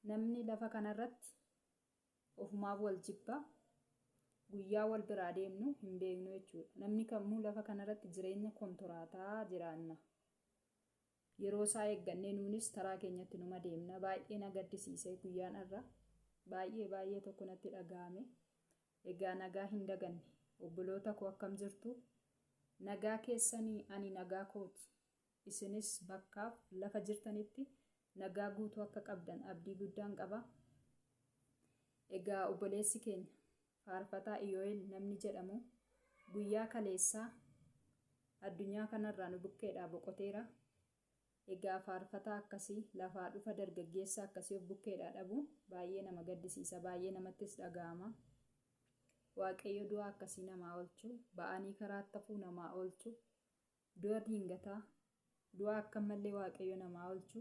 Namni lafa kanarratti ofumaaf wal jibba. Guyyaa wal biraa deemnu hin beeknu jechuudha. Namni kamuu lafa kanarratti jireenya kontoraataa jiraanna. Yeroo isaa eeggannee nuunis taraa keenyatti numa deemna. Baay'ee na gaddisiise guyyaan har'a. Baay'ee baay'ee tokko natti dhaga'ame. Egaa nagaa hin daganne. Obboloota koo akkam jirtu? Nagaa keessanii ani nagaa kooti. Isinis bakkaaf lafa jirtanitti nagaa guutuu akka qabdan abdii guddaan qaba. Egaa obboleessi keenya faarfataa Iyoo'el namni jedhamu guyyaa kaleessaa addunyaa kanarraa nu bukkeedhaa boqoteera. Egaa faarfataa akkasii lafaa dhufa dargaggeessa akkasii of bukkeedhaa dhabuun baay'ee nama gaddisiisa, baay'ee namattis dhaga'ama. Waaqayyo du'a akkasii namaa oolchu, ba'anii karaatti hafuu namaa oolchu, Du'a diingataa, du'a akka mallee Waaqayyo namaa olchu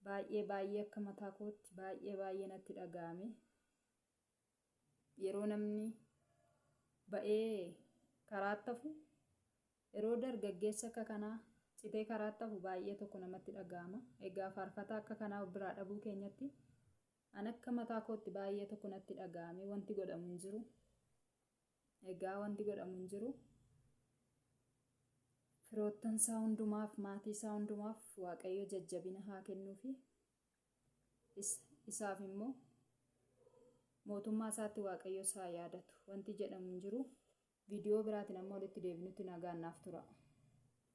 baay'ee baay'ee akka mataa kootti baay'ee baay'ee natti dhaga'ame. Yeroo namni ba'ee karaatti hafu, yeroo dargaggeessi akka kanaa citee karaatti hafu baay'ee tokko namatti dhaga'ama. Egaa faarfataa akka kanaa of biraa dhabuu keenyatti an akka mataa kootti baay'ee tokko natti dhaga'ame wanti godhamu hin jiru. Egaa wanti godhamu hin jiru. Firoottan isaa hundumaaf, maatii isaa hundumaaf Waaqayyo jajjabina haa kennuufi. Is, isaaf immoo mootummaa isaatti Waaqayyo isaa yaadatu. Wanti jedhamu hin jiru. Viidiyoo biraatiin amma walitti deebinutti nagaan naaf tura.